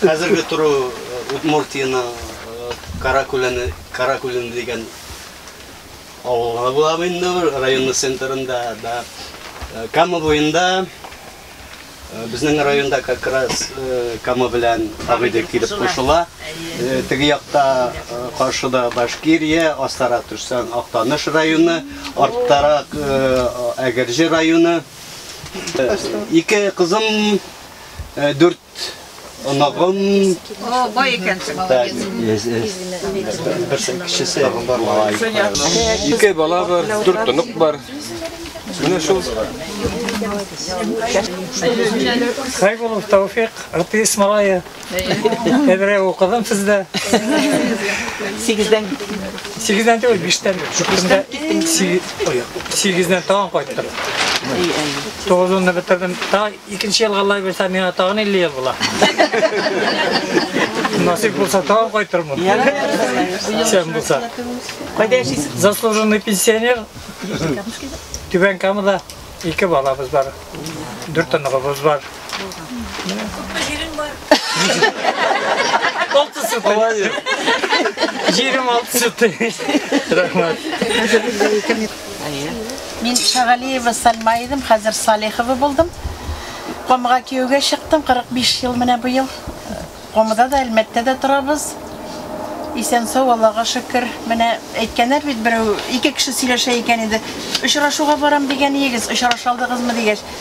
Хәзерге тору Удмуртиянең Каракүләне, Каракүлен дигән авылга була бу инде, районның центрында да. Кама буенда, безнең районда как раз Кама белән Агыйдел килеп кушыла. Теге якта, каршыда Башкирия, астарак төшсәң, Актаныш районы, арттарак Әгерҗе районы. Ике кызым, дүрт. оныгым. О, бай икәнсең, молодец. Берсен кешесе Ике бала бар, дүрт онык бар. Менә шул. Хайбулов Тауфик, артист малае. Әбрә укыдым сездә. Сигездән Сигездән түгел, биштән. Шукында сигездән тагын кайттым. Тугызынны бетердем, тагын Икенче елга Аллаһ бирсә, миңа тагын 50 ел була. Насип булса, тагын кайтырмын. Исән булса. Кайда яшисез? Заслуженный пенсионер. Түбән Камада ике балабыз бар. Дүрт оныгыбыз бар. Күпме җирең бар? Алты сутый. Җирем алты сутый. Рәхмәт. Әйе. Мин Шагалиева Сальма идем, хәзер Салихова булдым. Комыга кияүгә чыктым, 45 ел менә бу ел. Комыда да, Әлмәттә дә торабыз. Исән-сау, Аллага шөкер. Менә әйткәннәр бит берәү, ике кеше сөйләшә икән иде. Очрашуга барам дигән иегез, очраша алдыгызмы дигәч,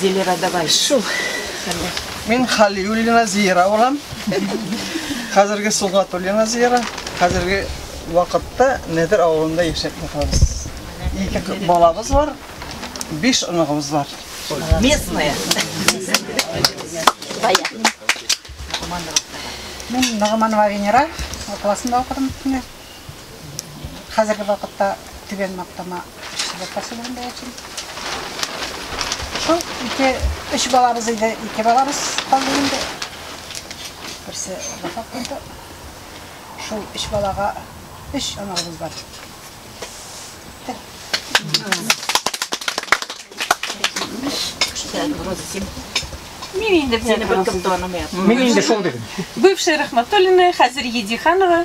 Зилера, давай. Шул хәлдә. Мин Халиуллина Зиера булам. Хәзерге Сулгатуллина Зиера. Хәзерге вакытта Нәдер авылында яшәп торабыз. Ике балабыз бар, биш оныгыбыз бар. Местная. Мин Нагыманова Венера, классында укыдым. Хәзерге вакытта Түбән Мактама эшчеләр поселогында яшим. Шул ике, өч балабыз иде, ике балабыз калды инде. Берсе вафат булды. Шул өч балага өч аналыбыз бар. Мин инде бер кем таным Мин инде шул дидем. Бывшая Рахматуллина, хәзер Едиханова.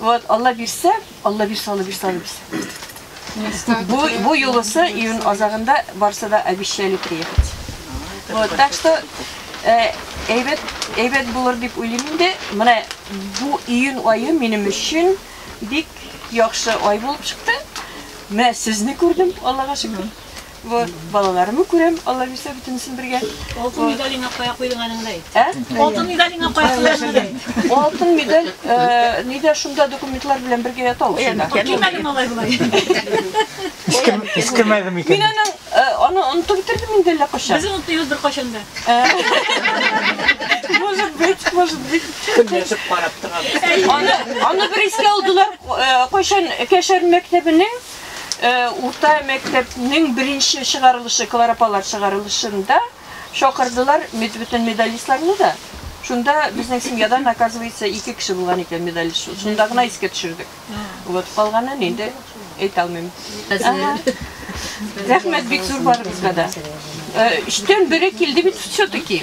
Вот, Алла бирсә, Алла бирсә, Алла бирсә, Алла бирсә. Бу, бу юлысы июнь азагында барса да обещали приехать. Вот, так что э, әйбәт, әйбәт булыр дип уйлыйм инде. Менә бу июнь айы минем өчен бик яхшы ай булып чыкты. Менә сезне күрдем, Аллага шөкер. Бу балаларымны күрәм, Алла бирсә бөтенесен бергә. Алтын медалеңа кая куйдың аныңны әйт. Ә? Алтын медалеңа кая куйдың? Алтын медаль э, нидә шунда документлар белән бергә ята ул шунда. Килмәде малай болай. Искемәде Мин микән? аның э, аны онытып бетердем инде әллә кайчан. Без онытыйбыз бер кайчан да. Может быть, может быть. Көнләшеп карап торам. Аны, аны бер искә алдылар э, кайчан Кәшәр мәктәбенең Э, урта мәктәпнең беренче чыгарылышы кларапалар чыгарылышында шакырдылар бөтен медалистларны да шунда безнең семьядан оказывается ике кеше булган икән медаль шунда гына искә төшердек вот калганын инде әйтә алмыйм рәхмәт бик зур барыбызга да өчтән бере килде бит все таки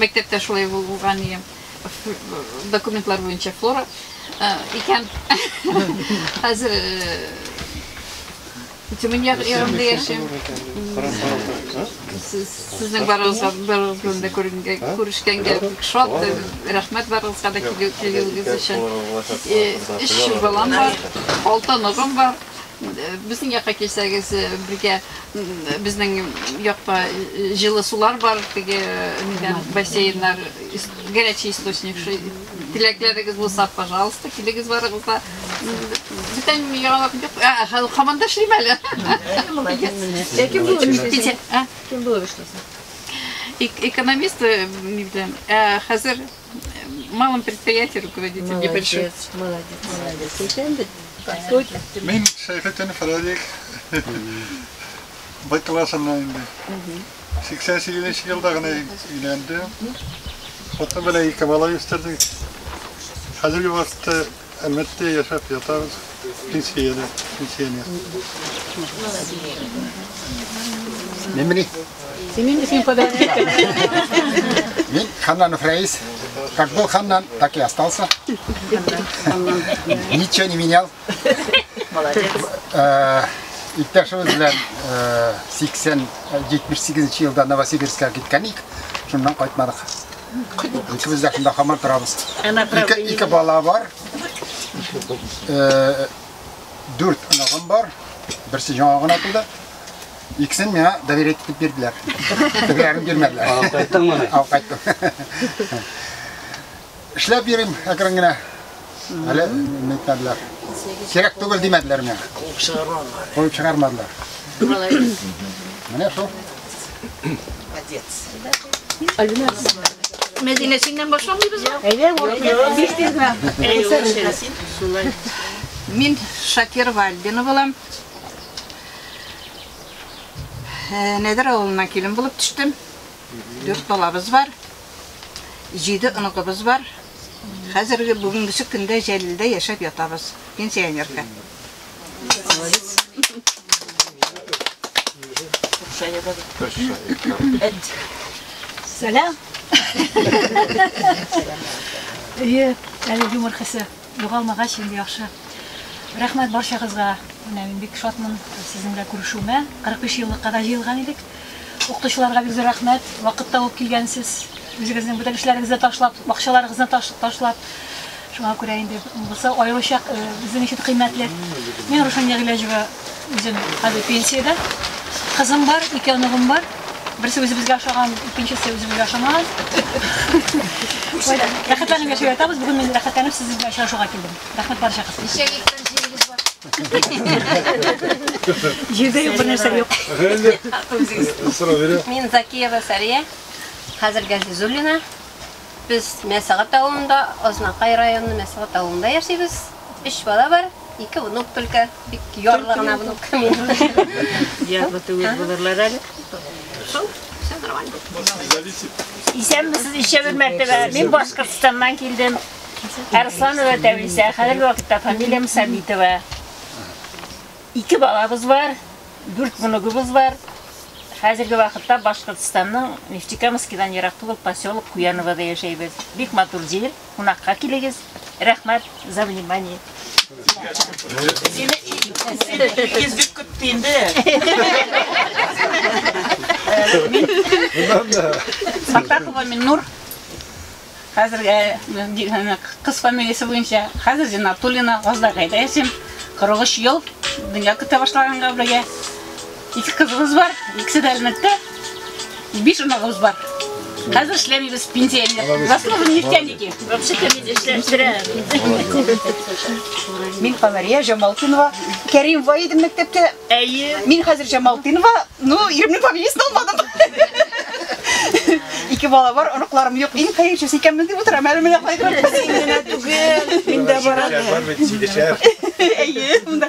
Мәктәптә шулай булган иде. Документлар буенча флора икән. Хәзер Тюмень ягында яшим. Сезнең барыгызга берүзем дә күренгә, күрешкәнгә бик шат. Рәхмәт барыгызга да килүегез өчен. Өч балам бар, алты оныгым бар. Безнең якка килсәгез, бергә безнең якта җылы сулар бар, теге нидән бассейннар, горячий источник шул. Теләкләрегез булса, пожалуйста, килегез барыгыз да. Бүтән яңалык юк. А, хәл хаман да эшлим әле. Ләкин бу эшләсен. Кем булып эшләсен? Экономист, ни белән, хәзер Малым предприятие руководитель небольшой. Молодец, молодец. Икән бит. Мин Шәйхетдинов Радик. Байталасыннан инде. 88 нче елда гына өйләндем. Хатын белән ике бала үстердек. Хәзерге вакытта Әлмәттә яшәп ятабыз, пенсиядә, пенсионер. Мемри. Синең өчен подарок итәм. Мин Ханнанов Раис. Как был Ханнан, так и остался. Ничего не менял. Молодец. Э, Иптәшебез белән 80-78 э, елда Новосибирскка киткән ик, шуннан кайтмадык. Үтебез якында хамар торабыз. Ике, ике бала бар. Э, дүрт оныгым бар. Берсе яңа гына туды. Иксен миңа доверять итеп бирделәр. Тегеләрен бирмәделәр. Алып кайттың моны? Алып кайттым. Эшләп йөрим әкрен генә. Әле мәктәпләр. Кирәк түгел димәделәр миңа. Куып чыгармадылар. Куып чыгармадылар. Молодец. Менә шул. Отец. Альбина. Мәдинә синнән башламыйбыз ба? Әйдә, тиз тиз генә. Мин Шакирова Альбина булам. Нәдер авылына килен булып төштем. Дүрт балабыз бар. җиде онытыбыз бар. Хәзерге бүгенгесе көндә Җәлилдә яшәп ятабыз. Пенсионерка. Сәлам. Әйе, әле юмор хисе. Югалмагач инде яхшы. Рәхмәт барчагызга. Менә мин бик шатмын сезнең белән күрешүемә. 45 еллыкка да җыелган идек. Укытучыларга бик зур рәхмәт. Вакыт табып килгәнсез. Үзегезнең бөтен эшләрегезне ташлап, бакчаларыгызны ташлап. Шуңа күрә инде монысы аеруча безнең өчен кыйммәтле. Мин Рушания Гыйләҗева, үзем хәзер пенсиядә. Кызым бар, ике оныгым бар. Берсе үзебезгә ошаган, икенчесе үзебезгә ошамаган. Рәхәтләнеп яшәп ятабыз. Бүген мин рәхәтләнеп сез белән очрашуга килдем. Рәхмәт барча кыз. Ничә гектар җирегез бар? Җирдә юк бернәрсә юк. Мин Закиева Сәрия, хәзер Газизуллина. Без Мәсәгат авылында, Азнакай районы Мәсәгат авылында яшибез. Өч бала бар, ике внук только. Бик ярлы гына внук. Ярлы түгел булырлар әле. Шул, все нормально. Исәнмесез, ишә бер мәртәбә. Мин Башкортстаннан килдем. Арсланова Тәвисә, хәзерге вакытта фамилиям Сабитова. Ике балабыз бар, дүрт внугыбыз бар. Хәзерге вакытта Башкортстанның Нефтекамскидан ерак түгел поселок Куяновода яшәйбез. Бик матур җир. Кунакка килегез. Рәхмәт за внимание. Фатахова Миннур. Хәзергә кыз фамилиясе буенча хәзер Зинатуллина Газдагайда яшим. 43 ел дөнья көтә башлаганга бергә. Ике кызыбыз бар, икесе дә Әлмәттә. Биш оныгыбыз бар. Хәзер эшләмибез, пенсионер. Заслугы нефтяники. Вообще-то мин эшләштирәм. Мин Камәрия Җамалтинова. Кәрим Ваидин мәктәптә. Әйе. Мин хәзер Җамалтинова. Ну, иремнең фамилиясен алмадым. Ике бала бар, оныкларым юк. Иң хәерчесе икәнбез дип утырам әле менә кайгырып. Мин дә барам. Бар бит, сидешәр. Әйе, монда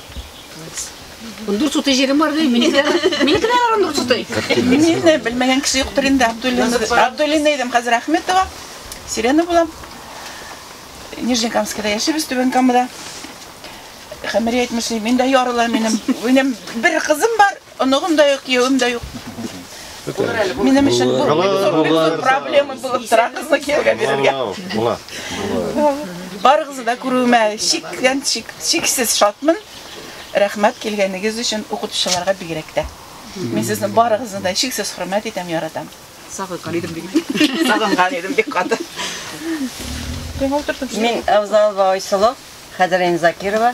Ундүрт сутый җирем бар ди, минекеләр. Минекеләр ара ундүрт сутый. Мине белмәгән кеше юктыр инде. Абдуллина, Абдуллина идем хәзер Ахметова. Сирена була. Нижнекамскида яшибез, Түбән Камада. Хәмирә әйтмешли, миндә ярылар минем. Минем бер кызым бар, Оныгым да юк, киявем дә юк. Минем өчен бу проблема булып тора кызны киявгә бирергә. Була. Барыгызны да күрүемә чиктән чик, чиксез шатмын. Рәхмәт килгәнегез өчен укытучыларга бигрәк тә. Мин сезне барыгызны да чиксез хөрмәт итәм, яратам. Сагынган идем бик. Сагынган идем бик каты. Мин Авзалова Айсылу, Хәдерин Закирова.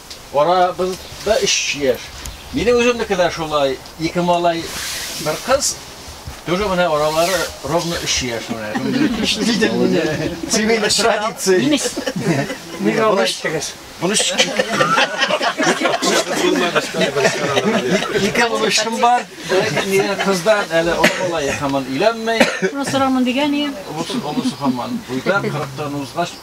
Арабыз да өч яшь. Минем үземнеке дә шулай, ике малай, бер кыз. Тоже менә аралары ровно өч яшь менә. Диде мине. Семейный традиция. Ник алып эчтегез? Буны Ике булышым бар. Нигә кыздан әле олылай һаман өйләнмәй. Шуны сорамын дигән ием. Олысы хаман. Буйдан 40 тан узгач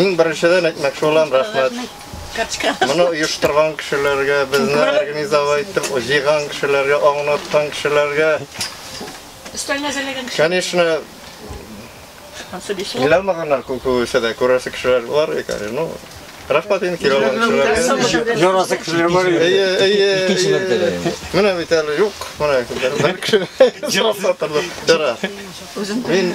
Иң беренчедән әйтмәкче булам, рәхмәт. Моны оештырган кешеләргә, безне организовать итеп җыйган кешеләргә, аңлаткан кешеләргә. Конечно, Иламаганнар күп күбесе дә күрәсе кешеләр бар икән. Ну, рәхмәт инде килә алган кешеләргә. Ярасы кешеләр бар. Әйе, әйе. Икенче мәртәбә. Менә бит әле юк. Менә бер кеше сорап тора. Мин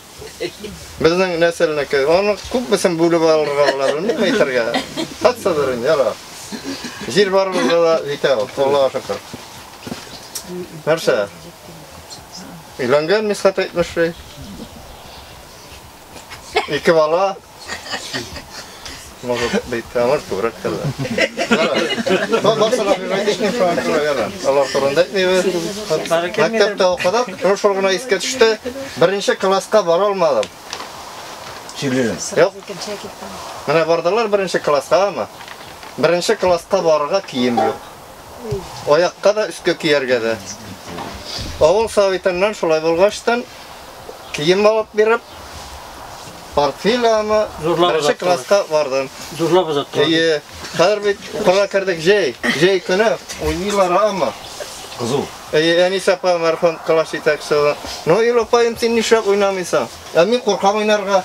Безнең нәселнеке. Аны күпмесен бүлеп алырга була, белмим әйтергә. Хатсадыр инде, яра. Җир барыбызда да җитә ул, Аллага шөкер. Нәрсә? Өйләнгән Мисхәт әйтмешли. Ике бала. Может быть, а может күбрәк тә. Барсына бирмәдешне шуңа күрә яра. Алар турында әйтмибез. Мәктәптә укыдык, шул гына искә төште. Беренче класска бара алмадым. Чилен. Юк. Менә бардылар беренче класска, ама. Беренче класска барырга кием юк. Аякка да өскә кияргә дә. Авыл советыннан шулай булгаштан кием алып биреп, Портфель аны беренче класска бардым. Зурлап озаттылар. Әйе. Хәзер бит укырга кердек җәй. Җәй көне уйныйлар ама. Кызу. Әйе, Әнис апа мәрхүм класс җитәкчесе. Ну, Илопаем, син нишләп уйнамыйсың? Ә мин куркам уйнарга.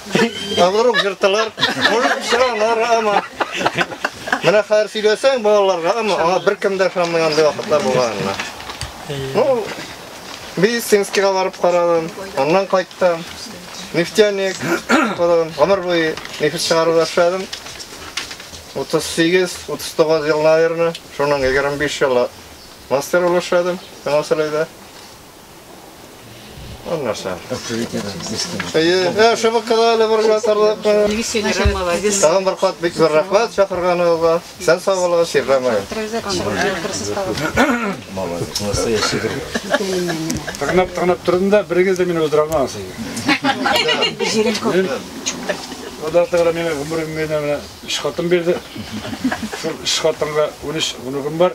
Авырук жыртылар. Может, чыгалар ама. Менә хәзер сөйләсәң балаларга, ама аңа беркем дә ышанмый андый вакытлар булганына. Ну, медицинскийга барып карадым, аннан кайттым. Нефтяник укыдым, гомер буе нефть чыгаруда эшләдем. 38-39 ел, наверное, шуның 25 елы мастер булып эшләдем, Җанасәләйдә. Аннаса. Әйе, шыбыккада әле бер генә тордык. Тагын бер кат бик зур рәхмәт чакырганыгызга. Сән сау булыгыз, Ирдәм ай. Телевизор чыгып җыелдырсыз тагын. Молодец. Настоящий друг. Тырнап, тырнап тордым да, берегез дә мине уздыра алмагыз инде. Җирем күп. Аллаһ Тәгалә миңа гомерем генә менә өч хатын бирде. Шул өч хатынга унөч онугым бар.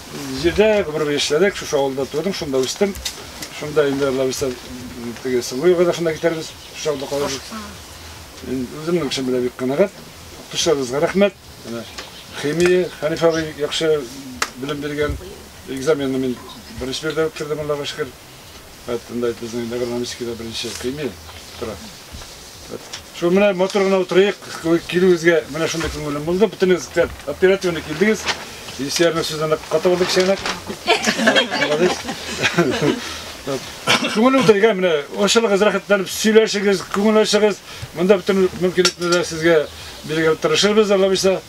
Җирдә гомерем эшләдек, шушы авылда тудым, шунда үстем. Шунда инде Алла бирсә, теге Сылуева да шунда китәрбез, шушы авылда калабыз. Мин үземнең эшем белән бик канәгать. Укытучыларыбызга рәхмәт. Менә химия Хәниф абый яхшы белем биргән. Экзаменны мин беренче биредә үткәрдем, Аллага шөкер. Хәттендай безнең Нагорномискида беренче көйме тора. Шул менә мотор гына утырыйк, килүегезгә менә шундый күңелем булды. Бөтенегез тәп оперативно килдегез. Исерне сүздән ката булдык чәнәк. Молодец. Күңел утырыйга менә ошылыгыз рәхәтләнеп сөйләшегез, күңел ачыгыз. Монда бөтен мөмкинлекне дә сезгә бирергә тырышырбыз, Аллабыйса.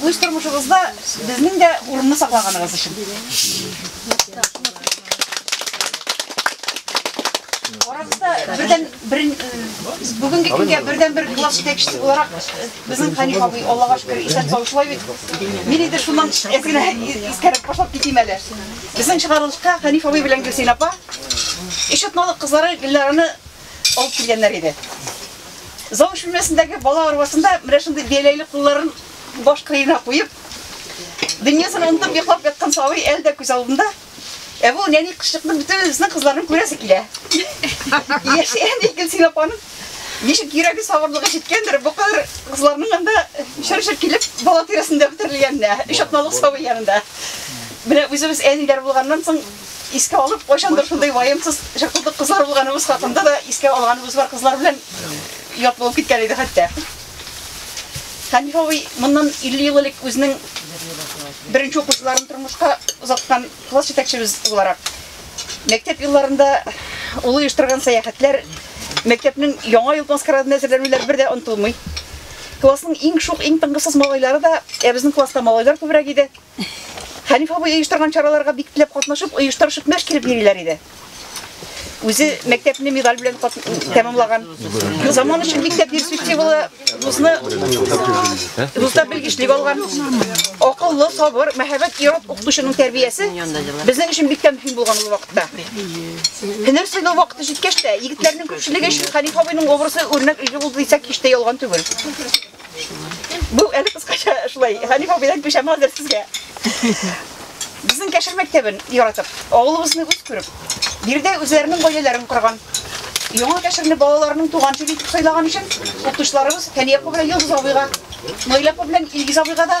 үз тормышыбызда безнең дә урынны саклаганыгыз өчен. Арабызда бердән бер бүгенге көнгә бердән бер класс җитәкчесе буларак безнең Хәниф абый Аллага шөкер исән сау шулай бит. Мин инде шуннан әзгенә искәреп башлап китим әле. Безнең чыгарылышка Хәниф абый белән Гөлсин апа Ишетмалык кызлары Гөлләрәне алып килгәннәр иде. Завуч бүлмәсендәге бала арбасында менә шундый бияләйле кулларын баш кырыена куеп, дөньясын онытып йоклап яткан сабый әле дә күз алдында. Ә бу нәни кызчыкны бөтенесенең кызларын күрәсе килә. Яшь әни Гөлсин апаның ничек йөрәге сабырлыгы җиткәндер, бу кадәр кызларның анда шыр-шыр килеп бала тирәсендә үтерелгәненә, өч атналык сабый янында. Менә үзебез әниләр булганнан соң искә алып, кайчандыр шундый ваемсыз чакырдык кызлар булганыбыз хакында да искә алганыбыз бар кызлар белән ят булып киткән иде хәтта. Хәниф абый моннан 50 ел элек үзенең беренче укучыларын тормышка озаткан класс җитәкчебез буларак мәктәп елларында ул оештырган сәяхәтләр мәктәпнең яңа ел маскарадына әзерләнүләр бер дә онытылмый. Классның иң шук, иң тыңгысыз малайлары да, ә безнең класста малайлар күбрәк иде. Хәниф абый оештырган чараларга бик теләп катнашып, оештырышып мәш киреп йөриләр иде. Үзе мәктәпне медаль белән тәмамлаган. Заман өчен бик тә перспективалы вузны вузда белгечлек алган. Акыллы, сабыр, мәһабәт ират укытучының тәрбиясе безнең өчен бик тә мөһим булган ул вакытта. Һөнәр сайлау вакыты җиткәч тә, егетләрнең күпчелеге өчен Хәниф абыйның образы үрнәк өлге булды дисәк, һич тә ялган түгел. Бу әле кыскача шулай. Хәниф абыйдан күчәм хәзер сезгә. Безнең Кәшер мәктәбен яратып, авылыбызны үз күреп, биредә үзләренең гаиләләрен корган. Яңа Кәшерне балаларының туган теле итеп сайлаган өчен укытучыларыбыз Фәния апа белән Йолдыз абыйга, Наилә апа белән Илгиз абыйга да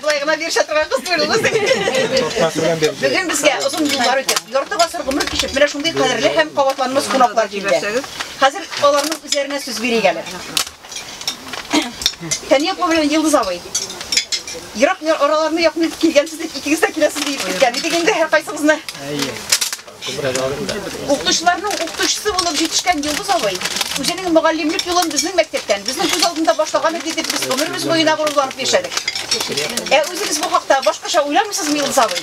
Болай гына бирешә торган кыз түгел ул син. Бүген безгә озын юллар үтеп, ярты гасыр гомер кичеп, менә шундый кадерле һәм кабатланмас кунаклар килде. Хәзер аларның үзләренә сүз бирик әле. Фәния апа белән Йылдыз абый. Ерак араларны якын итеп килгәнсез дип, икегез дә киләсез дип киткән идек инде һәркайсыгызны. Әйе. Укытучыларның укытучысы булып җитешкән Йолдыз абый үзенең мөгаллимлек юлын безнең мәктәптән, безнең күз алдында башлаган иде дип без гомеребез буена горурланып яшәдек. Ә үзегез бу хакта башкача уйламыйсызмы, Йолдыз абый?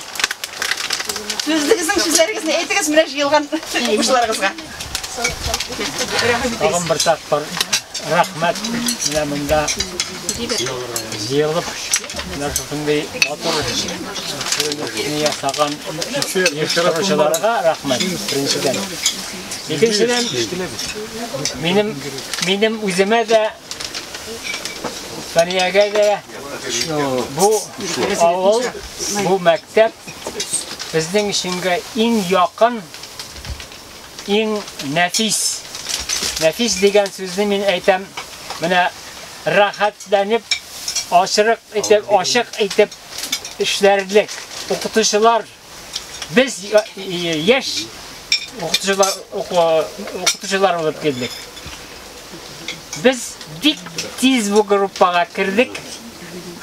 Сүзлегезнең сүзләрегезне әйтегез менә җыелган укучыларыгызга. Тагын бер тапкыр рәхмәт менә монда Җыелып, менә шушындый матур эшне ясаган оештыручыларга рәхмәт, беренчедән. Икенчедән, минем, минем үземә дә, Саниягә дә бу авыл, бу мәктәп безнең өченгә иң якын иң нәфис. Нәфис дигән сүзне мин әйтәм, менә рәхәтләнеп, ашырык итеп, ашык итеп эшләрлек. Укытучылар без яшь укытучылар укытучылар булып килдек. Без бик тиз бу группага кердек.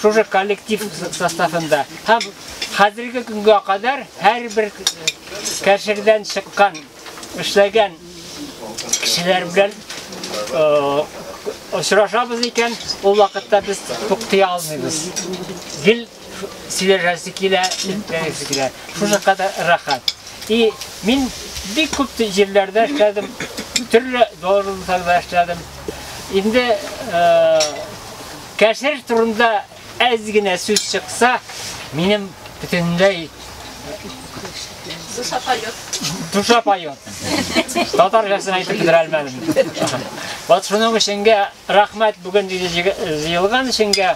Шушы коллектив составында. Һәм хәзерге көнгә кадәр һәрбер Кәсердән чыккан, эшләгән кешеләр белән очрашабыз икән, ул вакытта без туктый алмыйбыз. Гел сөйләшәсе килә, сөйләшәсе килә. Шушы кадәр рәхәт. И мин бик күп җирләрдә эшләдем, төрле должностьларда эшләдем. Инде кәсер турында Әз генә сүз чыкса, минем бөтенләй Душа поет. Душа поет. Татар җырсын әйтеп бетерә алмадым. Вот шуның өченгә рәхмәт бүген җыелган өченгә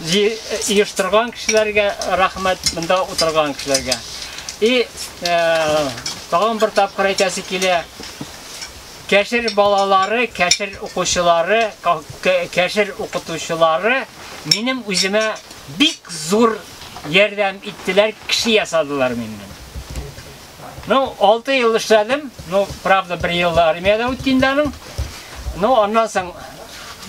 оештырган кешеләргә рәхмәт, монда утырган кешеләргә. И э, тагын бер тапкыр әйтәсе килә. Кәшер балалары, Кәшер укучылары, Кәшер укытучылары минем үземә бик зур ярдәм иттеләр, кеше ясадылар миннән. Ну, 6 ел эшләдем, ну, правда, бер ел армиядә үтте инде аның. Ну, аннан соң,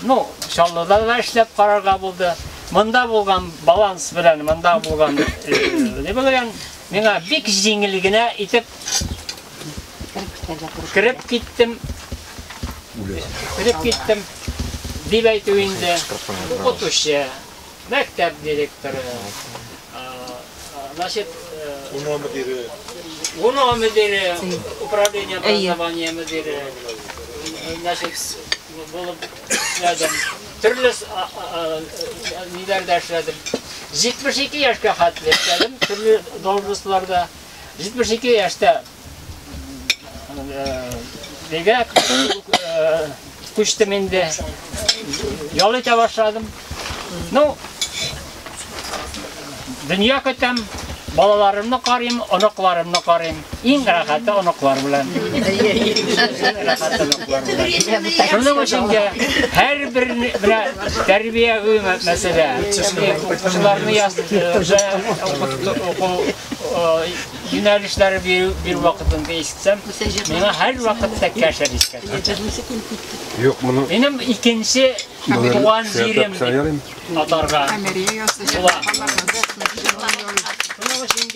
ну, Чаллыда да эшләп карарга булды. Монда булган баланс белән, монда булган, э, не булган, миңа бик җиңел генә итеп Кереп китәргә тырыш. Кереп киттем. Кереп киттем. Дип әйтү инде. Укытучы, мәктәп директоры, значит, УНО мөдире, УНО мөдире, управление образования мөдире, значит, булып эшләдем. Төрле ниләрдә эшләдем. 72 яшькә хәтле эшләдем, төрле должностьларда. 72 яшьтә бегә күчтем инде. Ял итә башладым. Ну, дөнья көтәм, балаларымны карыйм, оныкларымны карыйм. Иң рәхәте оныклар белән. Шуның өчен дә һәр бер менә тәрбия мәсьәлә. Укучыларны яз, юнәлешләре бирү бир вакытында ишетсәм, миңа һәр вакытта кәшәр искә Юк, моны Минем икенче туган җирем дип атарга була. Шуның өчен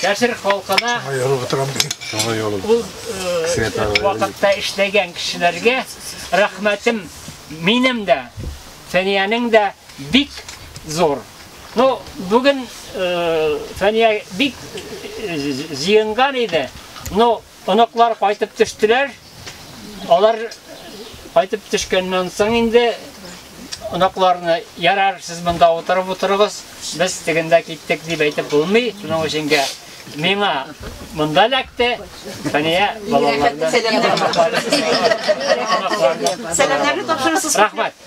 Кәшер халкына ул вакытта эшләгән кешеләргә рәхмәтем минем дә, Фәниянең дә бик зур. Ну, бүген Фәния бик җыенган иде. Ну, оныклар кайтып төштеләр. Алар кайтып төшкәннән соң инде оныкларны ярар, сез монда утырып утырыгыз, без тегендә киттек дип әйтеп булмый. Шуның өчен миңа монда ләкте, Фәния балаларны. Сәламнәрне тапшырасыз. Рәхмәт.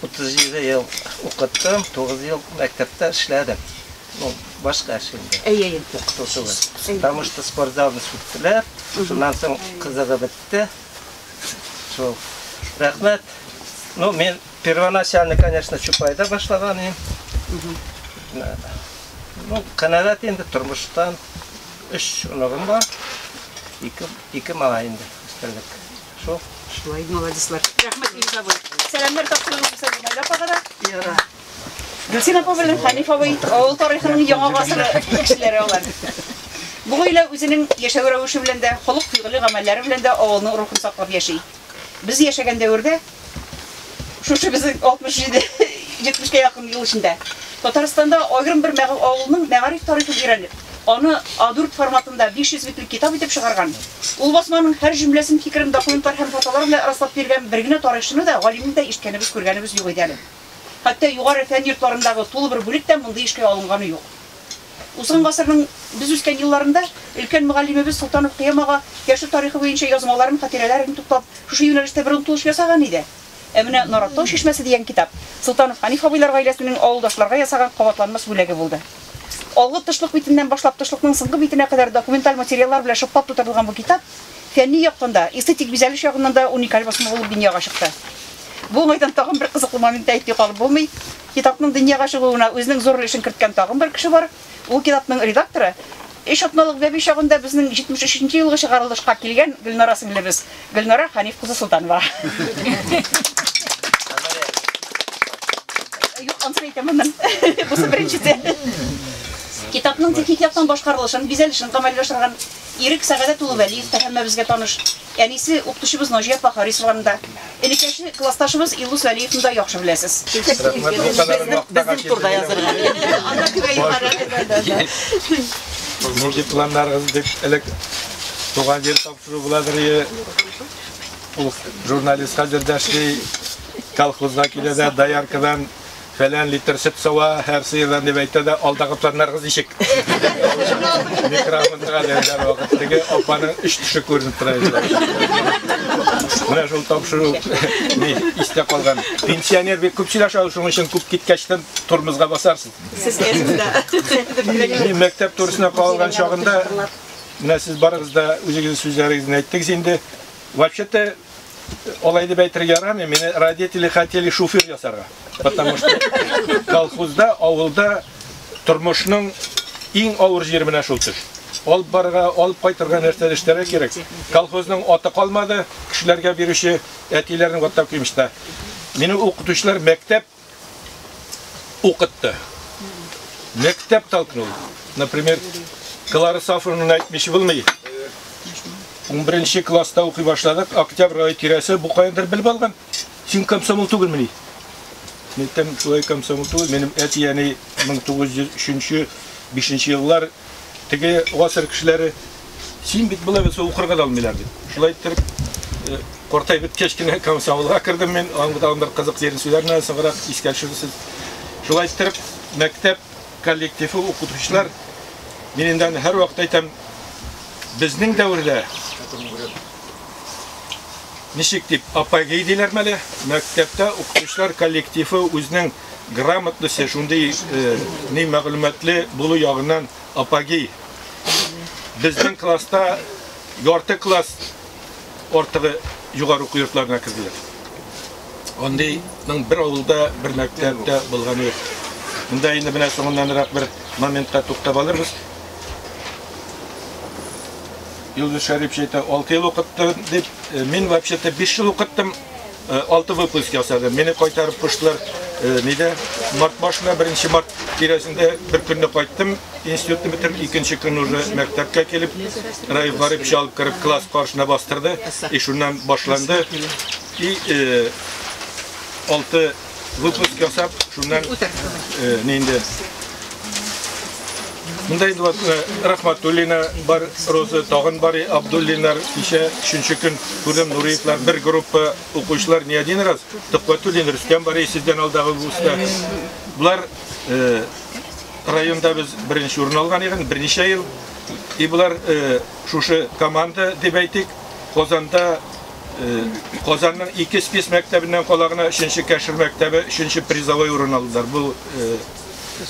37 ел укыттым, 9 ел мәктәптә эшләдем. Ну, башка эш инде. Әйе, әйе. Укыту түгел. Потому что спортзалны сүттеләр. Шуннан соң кызыгы бетте. Шул. Рәхмәт. Ну, мен первоначально, конечно, Чупайда башлаган идем. Ну, канәгать инде тормыштан. Өч оныгым бар. Ике, ике малай инде. Өстәлек. Шо, шулай, молодецлар. Рәхмәт, Илгиз абый. Сәламнәр тапшырыгыз Хусән Гыймай апага да. Яра. Гөлсин апа белән Хәниф абый авыл тарихының яңа гасыры кешеләре алар. Бу гаилә үзенең яшәү рәвеше белән дә, холык-фигыле гамәлләре белән дә авылның рухын саклап яши. Без яшәгән дәвердә Шушы безнең 67-70кә якын ел эчендә Татарстанда аерым бер авылның мәгариф тарихын өйрәнеп, аны А4 форматында 500 битлек китап итеп чыгарган, ул басманың һәр җөмләсен, фикерен документлар һәм фотолар белән раслап биргән бер генә тарихчыны да, галимне дә ишеткәнебез, күргәнебез юк иде әле. Хәтта югары фән йортларындагы тулы бер бүлек тә мондый эшкә алынганы юк. Узган гасырның без үскән елларында өлкән мөгаллимебез Солтанов Кыям ага яшел тарихы буенча язмаларын, хатирәләрен туплап, шушы юнәлештә бер омтылыш ясаган иде. Ә менә Нараттау чишмәсе дигән китап Солтанов Хәниф абыйлар гаиләсенең авылдашларга ясаган кабатланмас бүләге булды. Алгы тышлык битеннән башлап тышлыкның соңгы битенә кадәр документаль материаллар белән шыплап тутырылган бу китап фәнни яктан да, эстетик бизәлеш ягыннан да уникаль басма булып дөньяга чыкты. Бу уңайдан тагын бер кызыклы моментны әйтми калып булмый. Китапның дөньяга чыгуына үзенең зур өлешен керткән тагын бер кеше бар, ул китапның редакторы, өч атналык бәби чагында безнең 73 нче елгы чыгарылышка килгән Гөлнара сеңлебез, Гөлнара Хәниф кызы Солтанова. Юк, ансын әйтәмен мин. Бусы беренчесе. Китапның техник яктан башкарылышын, бизәлешен гамәлгә ашырган Ирек Сәгадәт улы Вәлиев та һәммәбезгә таныш. Әнисе, укытучыбыз Наҗия апа Харисованы да, энекәше, классташыбыз Илдус Вәлиевны да яхшы беләсез. Нинди планнарыгыз дип элек туган җир тапшыру буладыр ие. Ул журналист хәзер дә эшли, колхозга килә дә, дояркадан Фәлән литр сөт сава һәр сыердан дип әйтә дә, алдагы планнарыгыз ничек? Микрофонга дигән вакыт теге апаның үч төше күренеп тора иде. Менә шул тапшыру ни истә калган. Пенсионер бик күп сөйләшә ул, шуның өчен күп киткәчтән тормозга басарсыз. Сез әзмдә. Мин мәктәп турысына калган чагында, менә сез барыгыз да үзегезнең сүзләрегезне әйттегез инде. Вообще-то Алай дип әйтергә ярамый, мине родители хотели шофер ясарга. Потому что колхозда, авылда тормышның иң авыр җире менә шул төш. Алып барырга, алып кайтырга нәрсә эшләргә кирәк. Колхозның аты калмады, кешеләргә бирүче әтиләрнең аттап кимеште. Мине укытучылар мәктәп укытты. Мәктәп толкнул. Например, Клара Сафровна әйтмеші булмый. 11 класста укый башладык, октябрь ай тирәсе бу кайдыр белеп алган. Син комсомол түгелмени? Мәктәп шулай комсомол түгел, минем әти яни 1903-5 еллар теге гасыр кешеләре Син бит болай булса укырга да алмыйлар бит. Шулай иттереп э, картайып беткәч кенә комсомолга кердем мин. Аның тагын бер кызык җирен сөйләрмен әле соңрак искә төшерерсез. Шулай иттереп мәктәп коллективы укытучылар мин инде аны һәрвакыт әйтәм. Безнең дәвердә ничек дип апогей диләрме әле? Мәктәптә укытучылар коллективы үзенең грамотнысы, шундый э, ни мәгълүматлы булу ягыннан Апаги, безнең класста ярты класс артыгы югары уку йортларына керделәр. Андыйның бер авылда, бер мәктәптә булганы юк. Монда инде менә соңыннанрак бер моментка туктап алырбыз. Юлдус Шәрипчә әйтә, 6 ел укыттым дип, мин вообще-то 5 ел укыттым. Э, алты выпуск ясадым. Мине кайтарып куштылар. Э, Нидә? Март башында, беренче март тирәсендә бер көнне кайттым. Институтны бетереп, икенче көн уже мәктәпкә килеп, Раиф Гарип чалып кереп класс каршына бастырды. И шуннан башланды. И э, алты выпуск ясап, шуннан э, нинди Мындай инде э, Рахматуллина бар, Роза тагын бар, Абдуллинар кичә өченче көн күрдем Нуриевлар бер группа укучылар не один раз Төхбәтуллин Рөстәм бар сездән алдагы булса. Булар э, районда без беренче урын алган икән, берничә ел. И булар э, шушы команда дип әйтик, Казанда Казанның ике спец мәктәбеннән кала гына өченче кәшер мәктәбе өченче призовой урын алдылар. Бу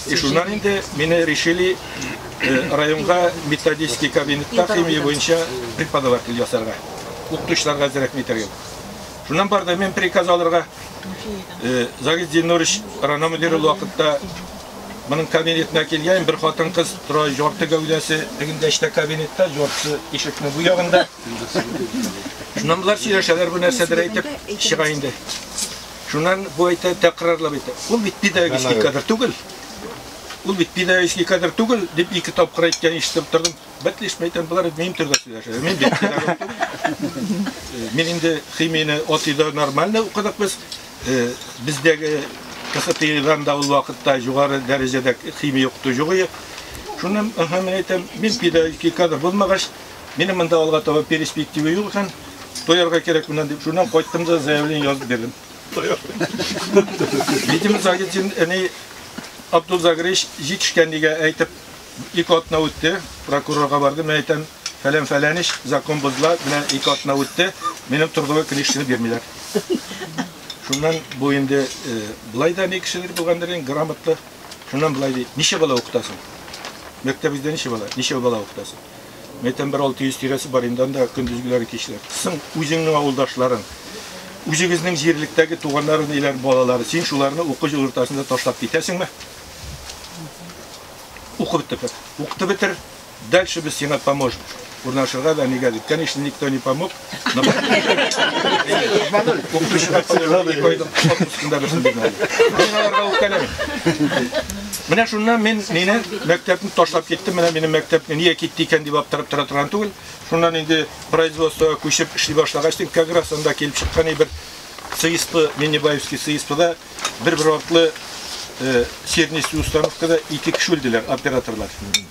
и шуннан инде мине решили районга методический кабинетта химия буенча преподаватель ясарга. Укытучыларга әзрәк митәргә. Шуннан барды мен приказ алырга. Загид Зиннурович рана мөдире вакытта моның кабинетына килгән бер хатын кыз тора, ярты гәүдәсе тегендә эчтә кабинетта, ярты ишекнең бу ягында. Шуннан болар сөйләшәләр бу нәрсәдер әйтеп чыга инде. Шуннан бу әйтә тәкрарлап әйтә. Ул бит педагогический кадр түгел. Ул бит педагогический кадр түгел дип ике тапкыр әйткән ишетеп тордым. Бәтлешмә әйтәм, болар минем төрдә сөйләшә. Мин бит педагог түгел. Мин инде химияне отыйда нормально укыдык без. Бездәге КХТИдан да ул вакытта югары дәрәҗәдә химия укыту юк иде. Шуннан, аха, мин әйтәм, мин педагогический кадр булмагач, Минем монда алга таба перспектива юк икән, тоярга кирәк менә дип, шуннан кайттым да заявление язып бирдем. Видимо, Загитин әни Абдул Загрич җитешкәнлегә әйтеп, ике атна үтте, прокурорга барды, мен әйтәм, фәлән фәлән ич, закон бозла, менә ике атна үтте, минем торгылы книжканы бирмиләр. Шуннан бу инде э, былай да ни кешеләр булгандыр, грамотлы. Шуннан былай ди, ничә бала укытасың? Мәктәбездә ничә бала? Ничә бала укытасың? Мәйтәм, бер 600 тирәсе бар инде анда көндезгеләре кичләр. Соң үзеңнең авылдашларың, үзегезнең җирлектәге туганнар, ниләр балалары, син шуларны уку җылыртасында ташлап китәсеңме? Укып бетер. Укытып бетер. Дальше без сиңа поможем. Урнашырга да нигә дип. Конечно, никто не помог. Менә шуннан мин мине мәктәпне ташлап киттем. Менә минем мәктәпне нигә китте икән дип аптырап тора торган түгел. Шуннан инде производствога күчеп эшли башлагач, тик как раз анда килеп чыккан бер ЦИСП, Миннебаевский ЦИСПда бер-бер артлы сернистый установкада ике кеше үлделәр, операторлар.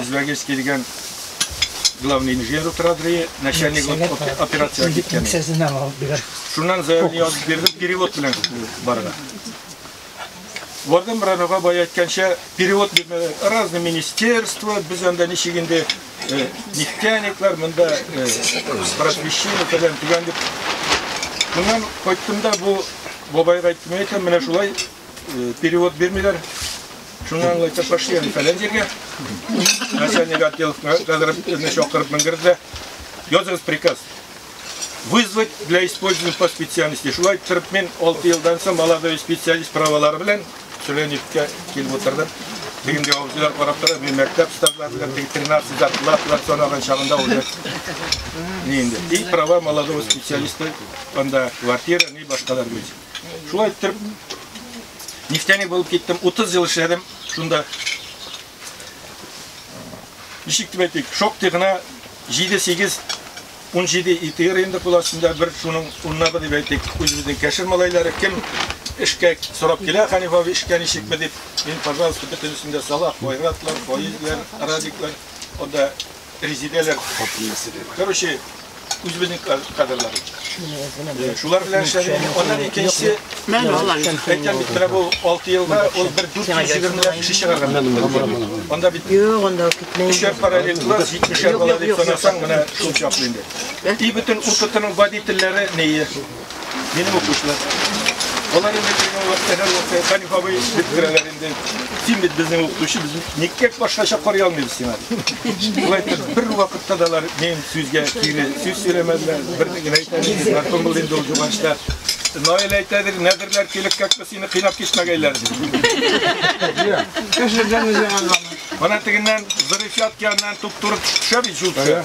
Үзбәгес килгән главный инженер утыра дрие, начальник операция киткән. Шуннан заявление язып бирдем, перевод белән барга. Вардам Рановга бай әйткәнчә, перевод бирмәләр. Разный министерство, без анда ничек инде э, нефтяниклар, монда э, просвещение, фәлән, тигән дип. Моннан кайттым да бу бабайга әйттем, әйтәм, менә шулай Перевод бирмиләр. Шуңа аңлайча пошли они фәлән җиргә. Начальник отдел кадровны чакырып менгерде. Языгыз приказ. Вызвать для использования по специальности. Шулай торып мин 6 елдан соң молодой специалист правалары белән Сүләневкә килеп утырдым. Бүгенге авызлар карап тора, мин мәктәп штаблары белән 13 зарплаталар санаган чагында уже. Ни инде. И права молодого специалиста анда квартира, ни башкалар белән. Шулай иттереп, нефтяник булып киттем. 30 ел эшләдем шунда. Ничек дип әйтик, шактый гына 7-8 17 итер инде кул астында бер шуның уннабы дип әйтик, үзебезнең кәшер малайлары кем эшкә сорап килә, Ханиф абый эшкә ничекме дип, мин, пожалуйста, бөтенесен дә сала, Файратлар, Фаизләр, Радиклар, анда Резедәләр хатыннысы дип. Короче, үзебезнең кадрлар. Шулар белән эшләдек. Аннан икенче мен алар. Әйтәм бит, менә бу 6 елда ул бер 420 ләп кеше чыгарган. Анда бит Юк, анда китмәй. Эшләр параллель класс 70 бала дип санасаң, менә шул чаклы инде. И бөтен укытының водительләре нее? Минем укучылар. Алар инде безнең вакытта һәр вакытта Хәниф абый дип керәләр инде. Син бит безнең укытучы, без никкә башкача карый алмыйбыз сиңа. Шулай итеп, бер вакытта да алар минем сүзгә кире сүз сөйләмәделәр. Берне генә әйтәләр, Мәрхүм булды инде ул Юганчта. Наил әйтәдер, нәдерләр килеп кәкпе сине кыйнап кичмәгәйләр дип. Кеше җаны җиһаннамы. Ана тегеннән Зырифят янынан туп-туры төшә бит җулчы.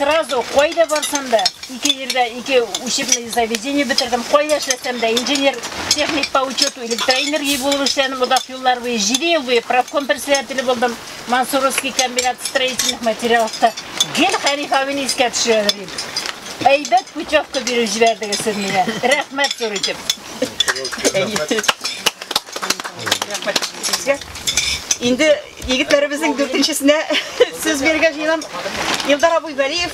Сразу кайда барсам да, ике җирдә ике учебный заведение бетердем. Кайда эшләсәм дә, инженер, техник по учету, электроэнергия булып эшләдем. Озак еллар буе, 7 ел буе профком председателе булдым. Мансуровский комбинат строительных материалов та. Гел Хәниф абыйны искә төшерәләр иде. Әйбәт путевка биреп җибәрдегез сез миңа. Рәхмәт зур итеп. Рәхмәт. Инде Егетләребезнең дүртенчесенә сүз бирергә җыенам. Илдар абый Вәлиев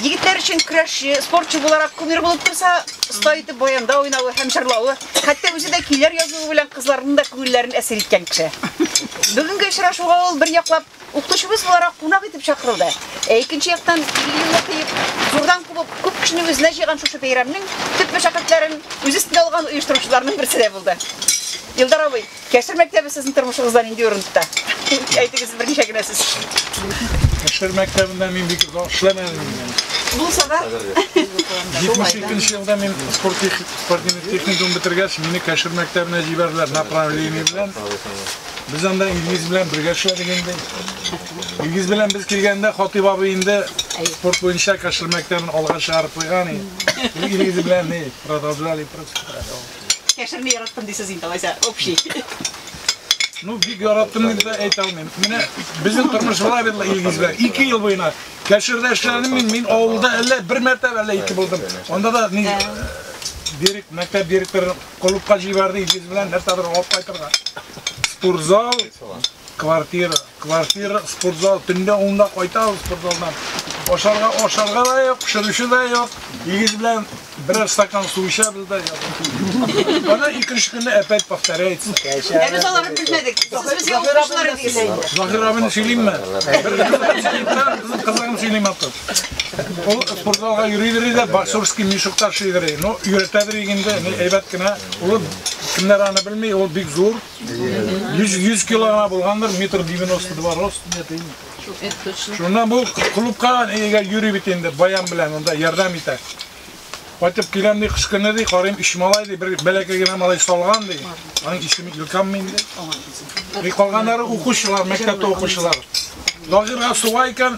егетләр өчен көрәшче, спортчы буларак кумир булып торса, оста итеп баянда уйнавы һәм җырлавы, хәтта үзе дә көйләр язуы белән кызларның да күңелләрен әсир иткән кеше. Бүгенге очрашуга ул бер яклап укытучыбыз буларак кунак итеп чакырылды. Ә икенче яктан, елны кыеп, зурдан кубып, күп кешене үзенә җыйган шушы бәйрәмнең төп мәшәкатьләрен үз өстенә алган оештыручыларның берсе дә булды. Илдар абый, Кәшер мәктәбе сезнең тормышыгызда нинди урын тота? Әйтегез берничә генә сүз. Кәшер мәктәбендә мин бик озак эшләмәдем. Булса да. 72 елда мин спорт спортивный техникум бетергәч, мине Кәшер мәктәбенә җибәрделәр направление белән. Без анда Илгиз белән бергә эшләдек инде. Илгиз белән без килгәндә Хатыйп абый инде спорт буенча Кәшер мәктәбен алга чыгарып куйган иде. Илгиз белән ни, продолжали просто. Яшерми яраттым дисез инде алайса, общий. Ну, бик яраттым дип дә әйтә алмыйм. Менә безнең тормыш була бит Илгиз белән. 2 ел буена Кәширдә эшләдем мин, мин авылда әллә бер мәртәбә әллә ике булдым. Анда да ни дирек, мәктәп директоры клубка җибәрде Илгиз белән нәрсәдер алып кайтырга. Спортзал, квартира. Квартира, спортзал, төнлә унда кайтабыз спортзалдан. Ашарга, ашарга да юк, пешерүче дә юк. Егет белән берәр стакан су эчәбез дә ятабыз. Ана икенче көнне опять повторяется. Ә без аларны белмәдек. Сез безгә укучылар идегез. Заһир абыны сөйлимме? Безнең кызларны сөйлим аты. Ул спортзалга йөри-йөри дә боксерский мешоктар шигъри. Ну, өйрәтәдер инде, әйбәт кенә. Ул кемнәр аны белми, ул бик зур. 100, 100 кило гына булгандыр, метр 92 рост дия дим. Шуннан бу клубка әйгә йөри бит инде, баян белән анда ярдәм итә. Кайтып киләм ди, кыш көне ди, карыйм иш малай ди, бер бәләкәй генә малай салган ди. Аның исеме Илкам мин ди. И калганнары укучылар, мәктәптә укучылар. Лагерга суга икән,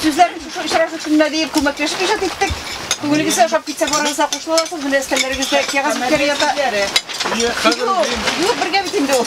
Сүзләр шушы очрашу көненә диеп күмәкләшеп иҗат иттек. Күңелегезгә ошап китсә барыгызга кушыласыз, менә өстәлләрегездә кәгазь битләре ята. Юк, бергә бит инде ул.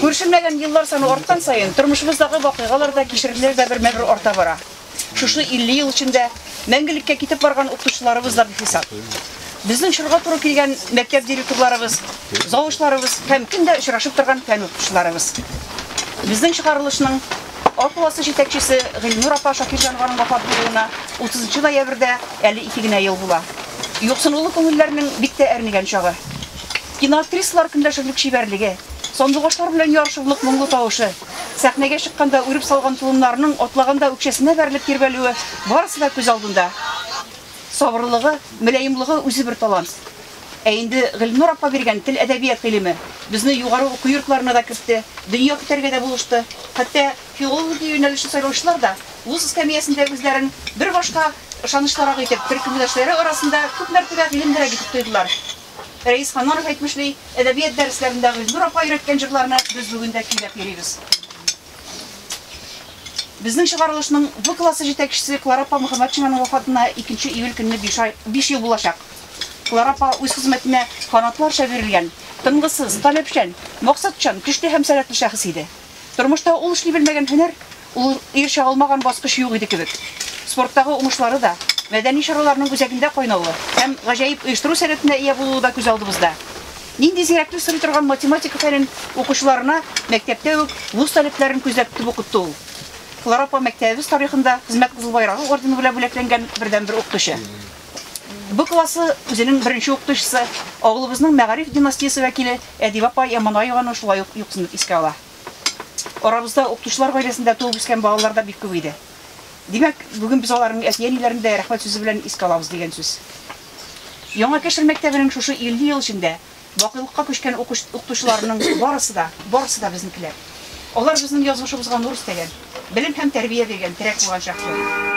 Күршемәгән еллар саны арткан саен тормышыбыздагы вакыйгалар да, кичерешләр дә бермә-бер арта бара. Шушы 50 ел эчендә мәңгелеккә китеп барган укытучыларыбыз да бихисап. Безнең чорга туры килгән мәктәп директорларыбыз, завучларыбыз һәм көндә очрашып торган фән укытучыларыбыз. Безнең чыгарылышның Ак полосы җитәкчесе Гыйльнур апа Шакирҗанованың вафат булуына 30 нчы ноябрьдә әле ике генә ел була. Юксынулы күңелләрнең бик тә әрнегән чагы. Киноактрисалар көнләшерлек чибәрлеге, сандугачлар белән ярышырлык моңлы тавышы, сәхнәгә чыкканда үреп салган толымнарының атлаганда үкчәсенә бәрелеп тирбәлүе барысы да күз алдында. Сабырлыгы, мөлаемлыгы үзе бер талант. Ә инде Гөлнур апа биргән тел, әдәбият гыйлеме безне югары уку йортларына да кертте, дөнья көтәргә дә булышты. Хәтта филология юнәлешен сайлаучылар да вуз эскәмиясендә үзләрен бер башка ышанычлырак итеп, төркемдәшләре арасында күп мәртәбә гыйлемлерәк итеп тойдылар. Рәис Ханнанов әйтмешли, әдәбият дәресләрендә Гөлнур апа өйрәткән җырларны без бүген дә көйләп йөрибез. Безнең чыгарылышның В классы җитәкчесе Клара апа Мөхәммәтшинаның вафатына 2 июль көнне биш ай, биш ел булачак. Клара апа үз хезмәтенә канатларча бирелгән, тынгысыз, таләпчән, максатчан, көчле һәм сәләтле шәхес иде. Тормышта ул эшли белмәгән һөнәр, ул ирешә алмаган баскыч юк иде кебек. Спорттагы уңышлары да, мәдәни чараларның үзәгендә кайнавы һәм гаҗәеп оештыру сәләтенә ия булуы да күз алдыбызда. Нинди зирәклек сорый торган математика фәнен укучыларына мәктәптә үк вуз талипләрен күзәтеп укытты ул. Клара апа мәктәбебез тарихында Хезмәт Кызыл Байрагы ордены белән бүләкләнгән бердәнбер укытучы. Бу классы үзенең беренче укытучысы, авылыбызның мәгариф династиясе вәкиле Әдибә апа Яманаеваны шулай ук юксынып искә ала. Арабызда укытучылар гаиләсендә туып үскән балалар да бик күп иде. Димәк, бүген без аларның әти-әниләрен дә рәхмәт сүзе белән искә алабыз дигән сүз. Яңа Кәшер мәктәбенең шушы 50 ел эчендә бакыйлыкка күчкән укытучыларының барысы да, барысы да безнекеләр. Алар безнең язмышыбызга нур өстәгән, белем һәм тәрбия биргән, терәк булган шәхесләр.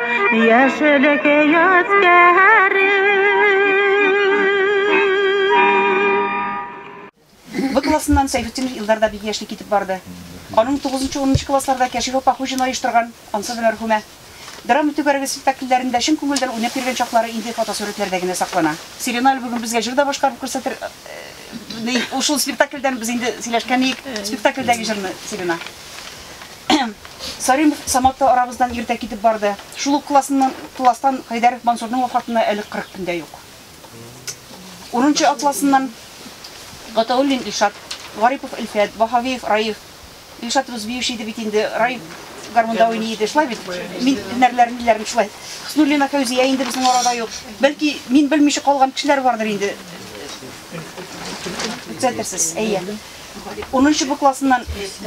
Яшелек яскәре. Б классыннан Сәйфетдинов Илдар да бик яшьли китеп барды. Аның тугызынчы-унынчы классларда Кәшиф апа Хуҗина оештырган, ансы да мәрхүмә, драма түгәрәге спектакльләрендә чын күңелдән уйнап йөргән чаклары инде фотосурәтләрдә генә саклана. Сирена әле бүген безгә җыр да башкарып күрсәтер Ул шул спектакльдән без инде сөйләшкән идек, спектакльдәге җырны, Сирена. Сарим Самат та арабыздан иртә китеп барды. Шул ук класстан Хәйдәров Мансурның вафатына әле кырык көн дә юк. Урынчы атласыннан Гатауллин Илшат, Гарипов Илфәт, Ваһавиев Раиф, Илшат рус биюче иде бит инде, Раиф гармунда уйный иде, шулай бит? Мин һөнәрләрен диләрме шулай? Хуснуллина Фәүзия инде безнең арада юк. Бәлки, мин белмичә калган кешеләр бардыр инде. Төзәтерсез, әйе. Унынчы Б классыннан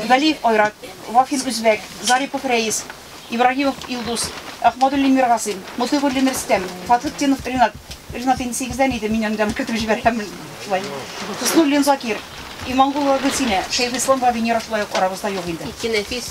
Галиев Айрат, Вафин Үзбәк, Зарипов Рәис, Ибраһимов Илдус, Әхмәдуллин Миргасыйм, Мотыйгуллин Рөстәм, Фатхетдинов Ринат, Ринат инде сигездән иде, мин анда кертеп җибәрәм шулай. Хуснуллин Закир, Имангулова Гөлсинә, Шәйхислам Вавинера шулай ук арабызда юк инде. Ике нәфис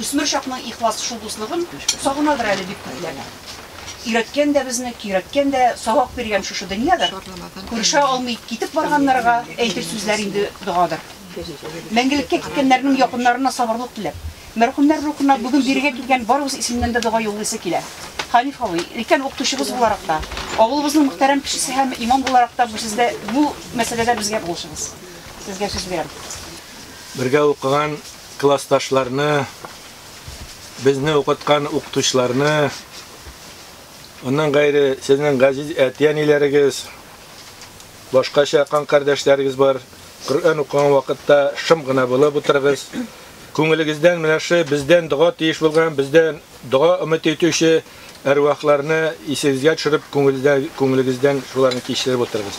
Үсмер чакның ихлас шул дуслыгын Сагынадыр әле бик күпләр. Өйрәткән дә безне, көйрәткән дә, Сабак биргән шушы дөньядыр. Күрешә алмый китеп барганнарга Әйтер сүзләр инде догадыр. Мәңгелеккә киткәннәрнең якыннарына сабырлык теләп, мәрхүмнәр рухына бүген бирегә килгән барыбыз исеменнән дә дога юллыйсы килә. Хәниф абый, өлкән укытучыбыз буларак та, авылыбызның мөхтәрәм кешесе һәм имам буларак та бу сездә бу мәсьәләдә безгә булышыгыз. Сезгә сүз бирәм. Бергә укыган Классташларны, безне укыткан укытучыларны, аннан гайре сезнең газиз әти-әниләрегез, башкача кан кардәшләрегез бар, Коръән укыган вакытта шым гына булып утырыгыз. Күңелегездән менә шы бездән дога тиеш булган, бездән дога өмет итүче әрвахларны исегезгә төшереп, күңелдә, күңелегездән шуларны кичереп утырыгыз.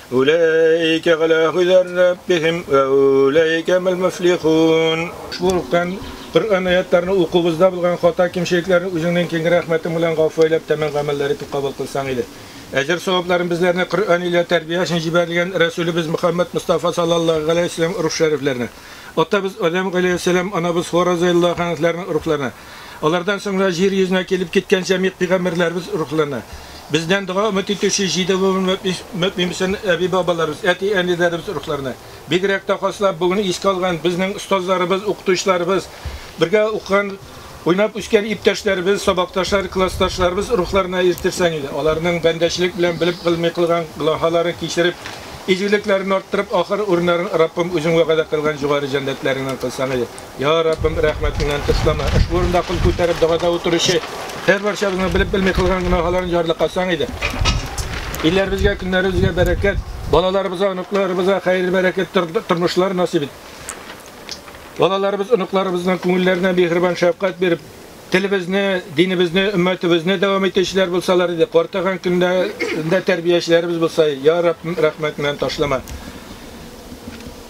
Уләйкә галә һүдәр рәббихим вә уләйкә мел мөфлихун. Шул уктан Коръән аятьләрен укуыбызда булган хата-кимчелекләрне үзеңнең киң рәхмәтең белән гафу әйләп тәмам гамәлләр итеп кабул кылсаң иде. Әҗер-савапларын безләрне Коръән илә тәрбия өчен җибәрелгән Рәсүлебез Мөхәммәд Мостафа саллаллаһу галәйһи вәсәлләм рух шәрифләренә, атабыз Адәм галәйһиссәлам, анабыз Хуа разыяллаһу хәнһләрнең рухларына, Алардан соңра җир йөзенә килеп киткән җәмигъ пигамбәрләребез рухлана. Бездән дога өмет итүче җиде буын мөэмииииииин әби-бабаларыбыз, әти-әниләребез рухларына. Бигрәк тә хаслап бүгенне искә алган безнең остазларыбыз, укытучыларыбыз, бергә укыган, уйнап үскән иптәшләребез, сабакташлар, классташларыбыз рухларына ирттерсәң иде. Аларның бәндәчелек белән белеп гылми кылган гълаһаларын кичереп, изгелекләрен арттырып, ахыр урыннарын Раббым үзең вәгадә кылган җугары җәннәтләреңнән кылсаң иде. Я Раббым, рәхмәтеңнән тышлама. Ошбу урында кул күтәреп догада утыручы һәрбарчабызның белеп-белми кылган гөнаһаларын җарлыкасаң иде. Илләребезгә, көннәребезгә бәрәкәт, балаларыбызга, оныкларыбызга хәер бәрәкәт тормышлар насыйп ит. Балаларыбыз, оныкларыбызның күңелләренә миһербан шәфкать биреп, Телебезне, динебезне, өммәтебезне дәвам итүчеләр булсалар иде, картайган көндә дә тәрбиячеләребез булса, я Раб, рәхмәт белән ташлама.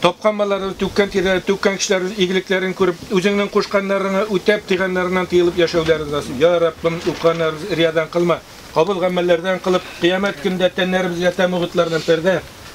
Тапкан балалары, түккән тирләре, түккән кешеләребез игелекләрен күреп, үзеңнең кушканнарыңа үтәп, тыйганнарыңнан тыелып яшәүләрен насыйп. Я Раб, укыганнарыбыз риядан кылма. Кабул гамәлләрдән кылып, кыямәт көндә тәннәребезгә тәмугытлардан пәрдә,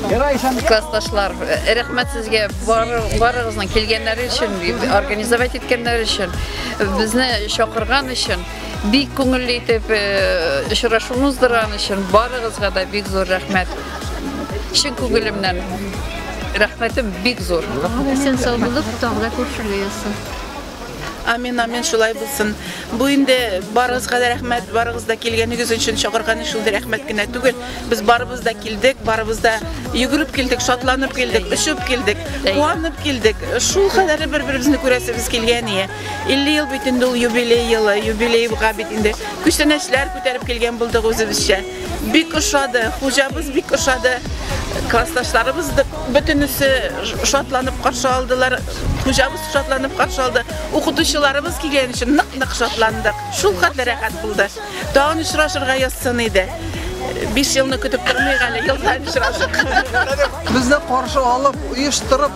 Классташлар, рәхмәт сезгә барыгызның килгәннәре өчен, организовать иткәннәре өчен, безне чакырган өчен, бик күңелле итеп очрашуны уздырган өчен барыгызга да бик зур рәхмәт. Чын күңелемнән рәхмәтем бик зур. Исән сау булып, тагы да күршеләсез. Амин, амин, шулай булсын. Бу инде барыгызга да рәхмәт, барыгыз да килгәнегез өчен чакырган өчен дә рәхмәт кенә түгел. Без барыбыз да килдек, барыбыз да йөгереп килдек, шатланып килдек, очып килдек, куанып килдек. Шул кадәр бер-беребезне күрәсебез килгән ие. 50 ел бит инде ул юбилей елы, юбилейга бит инде күчтәнәчләр күтәреп килгән булдык үзебезчә. Бик ошады, хуҗабыз бик ошады. Классташларыбыз да бөтенесе шатланып каршы алдылар. Хуҗабыз шатланып каршы алды. Укытучыларыбыз килгән өчен нык-нык шатландык. Шул хәтле рәхәт булды. Тагын очрашырга язсын иде. 5 елны көтеп тормыйк әле, елдан очрашык. Безне каршы алып, оештырып,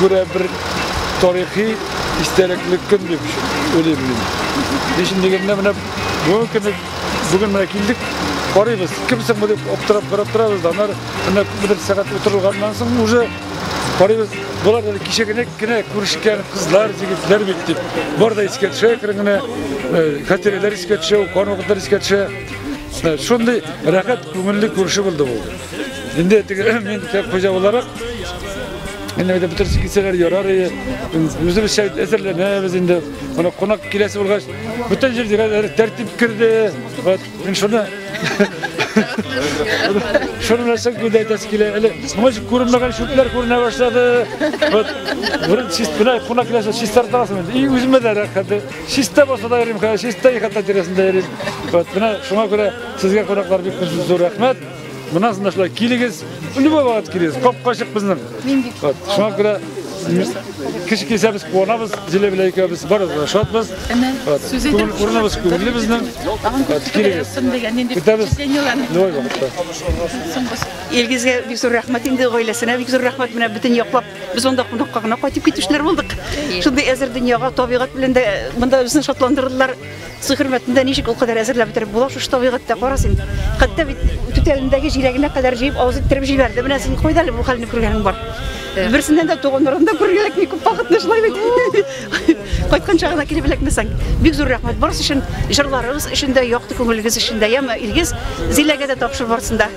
күрә бер тарихи истәлекле көн дип уйлыйм мин. Нишләп дигәндә менә бүгенге көнне бүген менә килдек, карыйбыз, кем соң бу дип аптырап карап торабыз да, аннары менә күпмедер сәгать утырылганнан соң уже карыйбыз, болар әле кичә генә генә күрешкән кызлар, егетләр бит дип. Бар да искә төшә керен генә, хатирәләр искә төшә, укыган вакытлар искә төшә. Шундый рәхәт күңелле күрше булды бу. Инде теге мин хуҗа буларак Инде бит бөтен кисәләр ярар иде. Үзебезчә әзерләнәбез инде. Моны кунак киләсе булгач, бөтен җирдә тәртип керде. Вот, мин шуны Шуны белән соң күдә әйтәсе килә. Әле моңа күренмәгән шүпләр күренә башлады. Вот, бер чист белән кунак киләсе чистартасың инде. И үземә дә рәхәт. Чиста булса да йөрим, чиста ихата тирәсендә йөрим. Вот, менә шуңа күрә сезгә кунаклар бик зур рәхмәт. Мына сындашлар, килегез, любой вакыт килегез, капкачык безнең. Мин бик. Вот, шуңа күрә кеше килсә без куанабыз, Зилә белән икәүбез барыбыз да шатбыз. Вот, сүз итеп, күңел- урыныбыз күңелле безнең. Тагын Вот, күп килегез. язсын дигән нинди Көтәбез. впечатлениеләрне. Любой вакытта. Илгизгә бик зур рәхмәт инде, гаиләсенә бик зур рәхмәт. Менә бөтен яклап без монда кунакка гына кайтып китүчеләр булдык. Шундый әзер дөньяга, табигать белән дә монда безне шатландырдылар. Су хөрмәтендә ничек ул кадәр әзерләп бетереп була шушы табигатьтә, кара син. Хәтта бит түтәлендәге җиләгенә кадәр җыеп авыз иттереп җибәрде. Менә син кайда әле бу хәлне күргәнең бар. Берсеннән дә туганнарым да күргәләк ни күп вакытны шулай бит. Кайткан чагына килеп эләкмәсәң. Бик зур рәхмәт барысы өчен, җырларыгыз өчен дә, якты күңелегез өчен дә. Яме Илгиз, Зиләгә дә тапшыр барсын да.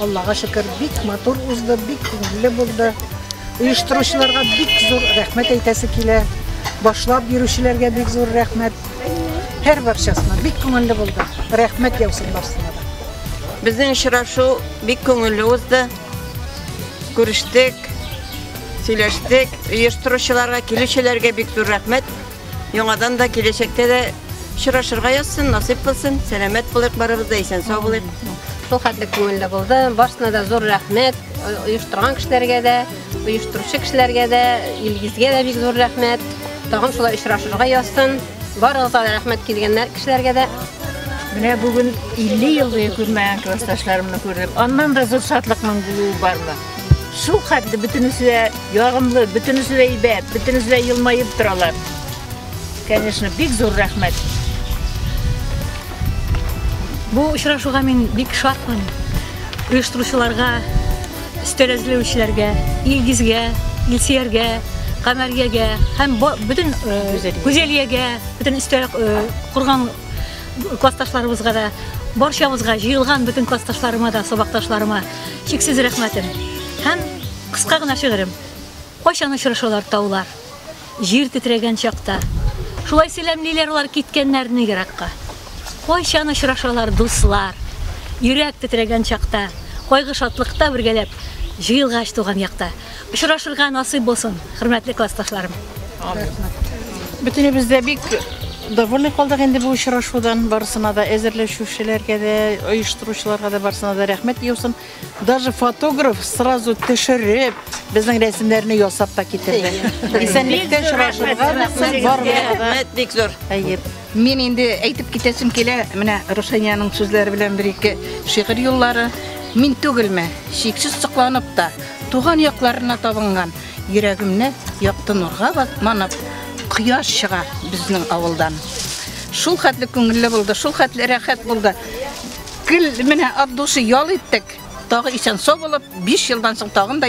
Аллага шөкер, бик матур узды, бик күңелле булды. Оештыручыларга бик зур рәхмәт әйтәсе килә. Башлап бирүчеләргә бик зур рәхмәт. Һәр барчасына бик күңелле булды. Рәхмәт яусын барсына да. Безнең очрашу бик күңелле узды. Күрештек, сөйләштек. Оештыручыларга, килүчеләргә бик зур рәхмәт. Яңадан да киләчәктә дә очрашырга язсын, насыйп булсын. Сәламәт булыйк барыбыз да исән сау булыйк. Шул хәтле күңелле булды. Барысына да зур рәхмәт. Оештырган кешеләргә дә, оештыручы кешеләргә дә, Илгизгә дә бик зур рәхмәт. Тагын шулай очрашырга язсын. Барыгызга да рәхмәт килгәннәр кешеләргә дә. Менә бүген 50 ел буе күрмәгән классташларымны күрдем. Аннан да зур шатлыкның булуы бармы? Шул хәтле бөтенесе дә ягымлы, бөтенесе дә әйбәт, бөтенесе дә елмаеп торалар. Конечно, бик зур рәхмәт. Бу очрашуга мин бик шатмын. Оештыручыларга, өстәл әзерләүчеләргә, Илгизгә, Илсияргә, Камәргәгә һәм бөтен э, Гүзәлиягә, бөтен өстәл э, курган классташларыбызга да, барчабызга, җыелган бөтен классташларыма да, сабакташларыма чиксез рәхмәтем һәм кыска гына шигырем. Кайчан очрашалар таулар, җир тетрәгән чакта. Шулай сәламлиләр алар киткәннәрне еракка. Кайчан очрашалар дуслар, йөрәк тетрәгән чакта. Кайгы шатлыкта бергәләп, җыелгач туган якта. Очрашырга насыйп булсын, хөрмәтле классташларым. Бөтенебез дә бик довольны калдык инде бу очрашудан. Барысына да әзерләшүчеләргә дә, оештыручыларга да барысына да рәхмәт яусын. Даже фотограф сразу төшереп, безнең рәсемнәрне ясап та китерде. Исәнлектә очрашырга барыбызга да. Рәхмәт бик зур. Әйе. Мин инде әйтеп китәсем килә, менә Рушаниянең сүзләре белән бер-ике шигырь юллары. Мин түгелме, чиксез сокланып та, туган якларына табынган, йөрәгемне якты нурга манып, кояш чыга безнең авылдан. Шул хәтле күңелле булды, шул хәтле рәхәт булды. Гел менә от души ял иттек, тагы исән-сау булып, 5 елдан соң тагын да